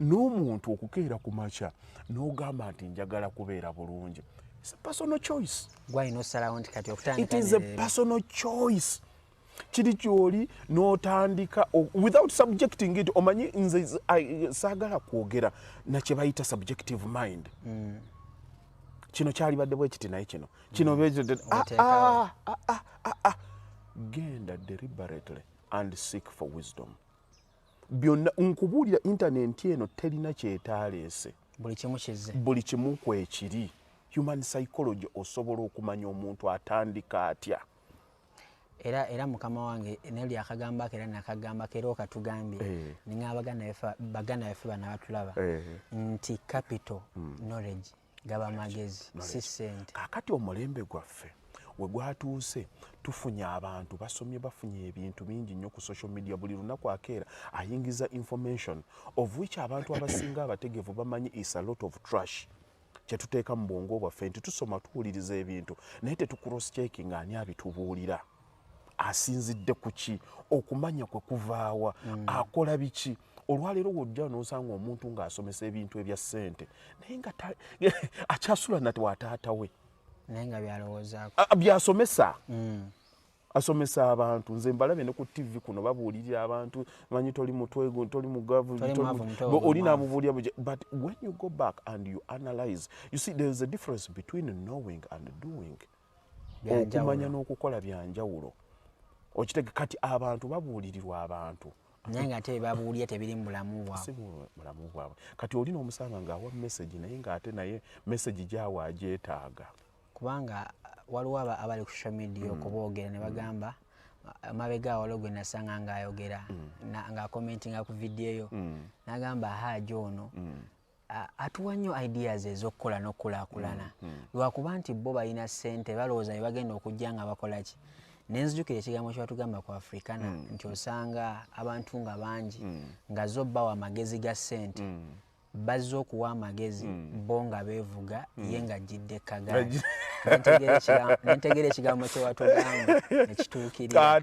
n'omuntu okukeera ku makya n'ogamba nti njagala kubeera bulungi kiri kyoli n'otandika without subjecting it omanyi nze saagala kwogera nakye bayita subjective mind mm. kino kyalibadde bwe kiti naye kino kino mm. ah, ah, ah, ah, ah, ah. genda deliberately and seek for wisdom byonna nkubuulira intanenti eno terina kyetaaleese buli kimu kizze buli kimu kwekiri human psychology osobola okumanya omuntu atandika atya era era mukama wange nelyo akagamba kera nakagamba kera okatugambye eh. ninga abagana efa bagana efa bana batulaba eh. nti capital mm. knowledge gaba magezi si sente kakati omulembe gwaffe wegwatuuse tufunye abantu basomye bafunye ebintu bingi nnyo ku social media buli lunaku akeera ayingiza information of which abantu abasinga abategevu bamanyi is a lot of trash kyetuteeka mu bwongo bwaffe nti tusoma tuwuliriza ebintu naye tetucross checking ani abitubuulira asinzidde ku ki okumanya kwe kuvaawa mm. akola biki olwaleero wojja nosanga omuntu ng'asomesa ebintu ebya ssente naye nga akyasula nati wataata we naye nga byalowoozaako byasomesa mm. asomesa abantu nze mbalabe ne ku tv kuno babuulirira abantu manyi toli mutwego toli mugavu oli namubuulira but when you go back and you analyze you see there is a difference between knowing and doing okumanya n'okukola byanjawulo okitege kati abantu babuulirirwa abantu naye nga ate babuulira tebiri mubulamu bwabulamu bwabwe kati oli n'omusanga ng'awa mesagi naye ng'ate naye mesagi gyawa agyetaaga kubanga waliwo abali ku social media mm. okuboogera ne bagamba mm. mabega walo gwe nasanga ng'ayogera mm. ng'akomentinga ku vidiyo yo mm. nagamba haaji ono mm. atuwa nnyo ideas ezokukola nokukulakulana mm, mm. lwakuba nti bo balina sente balowooza bebagenda okujja nga bakolaki nenzijukira ekigambo kyewatugamba ku afrikana mm. nti osanga abantu nga bangi nga zo bawa amagezi ga sente bazze okuwa amagezi hmm. bo nga beevuga hmm. ye nga jjidde kagaali nentegeera ekigambo kyewatugamba nekituukirira